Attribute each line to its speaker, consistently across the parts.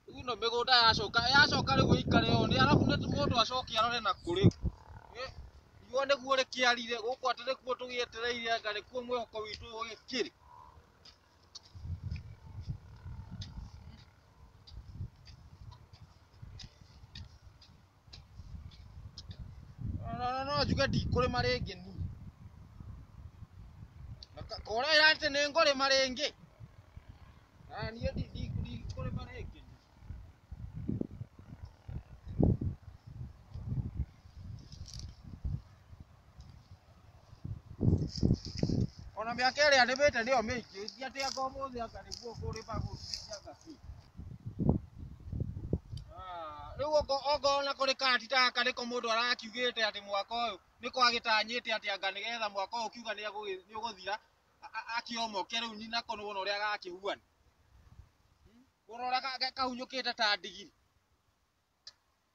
Speaker 1: Rĩu ĩno mĩgũnda yacoka yacoka rĩu ĩikare ũũ nĩ arabu nĩ mũndũ acoke arore na kũ rĩu. Eh, Riũa nĩguo rĩkĩarire gũkũ atĩ nĩkuo tũgĩetereire anga nĩkuo mwĩhoko witũ ũgĩkĩrĩ. No njuge ndikũrĩma rĩngĩ niĩ. Ũrera atĩ nĩ ngũrĩma rĩngĩ. Niĩ ndikũrĩma rĩngĩ. Ona mĩaka ĩrĩa nĩmĩte nĩyo mĩingĩ, ti atĩ anga ũmũthĩ anga nĩguo kũrĩma gũtuĩke anga ti. Ah, Rĩu oko oko ona kũrĩ kati ta gaka nĩko mũndũ arakiugĩte atĩ mwaka ũyũ nĩko agĩtanyĩte atĩ anga nĩgetha mwaka ũyũ ũkiuga nĩagũgĩ- nĩũgũthira a- a- akĩomoke rĩu nyi- nako nĩwona ũrĩa gakĩhuana. Wona ũrĩa ga- ga- kahunyũkĩte ta ndigiri.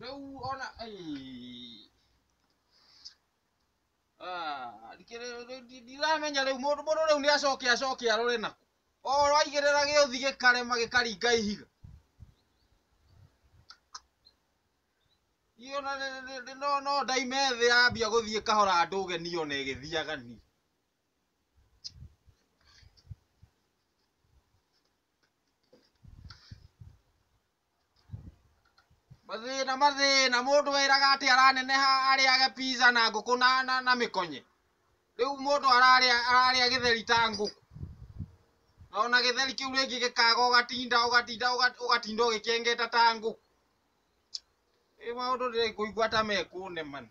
Speaker 1: rĩu ona ai. Ah, ndikĩ- rĩu- rĩu ndi- ndiramenya rĩu mũndũ mũndũ rĩu nĩ acoke acoke arore na oro aigĩrĩra gĩũthi gĩkarema gĩkaringa ihiga iyo na- na- na- na- no no ndaime thĩ yambia gũthiĩ kahora ndũge niyo na ĩgĩthiaga ni mathĩna mathĩna mũndũ wĩraga atĩ araneneha arĩage pizza na ngũkũ na, na, na mĩkonye rĩu mũndũ ararĩa ararĩa gĩtheri ta ngũkũ na ona gĩtheri kĩu rĩngĩ gĩkaga ũgatinda ũgatinda ũga- ũgatinda ũgĩkĩengeta ta ngũkũ ĩ maũndũ ndĩrĩ kũigua ta mekũnemana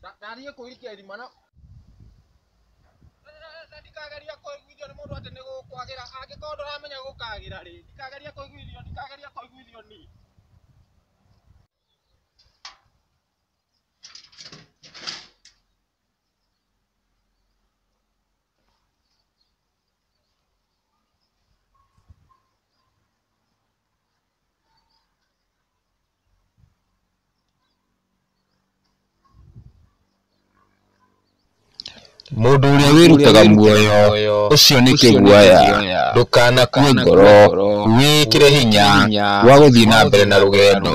Speaker 1: Nda- ndathiĩ kũirikia irima na na ndikageria kũiguithio nĩ mũndũ atĩ nĩ gũkwagĩra angĩkorwo ndũramenya gũkagĩra rĩ ndikageria kũiguithio ndikageria kũiguithio ni Mũndũ ũrĩa wĩrutaga muoyo ũcio nĩ kĩguoya, ndũkanakue ngoro, wĩkĩre hinya wa gũthiĩ na mbere na rũgendo.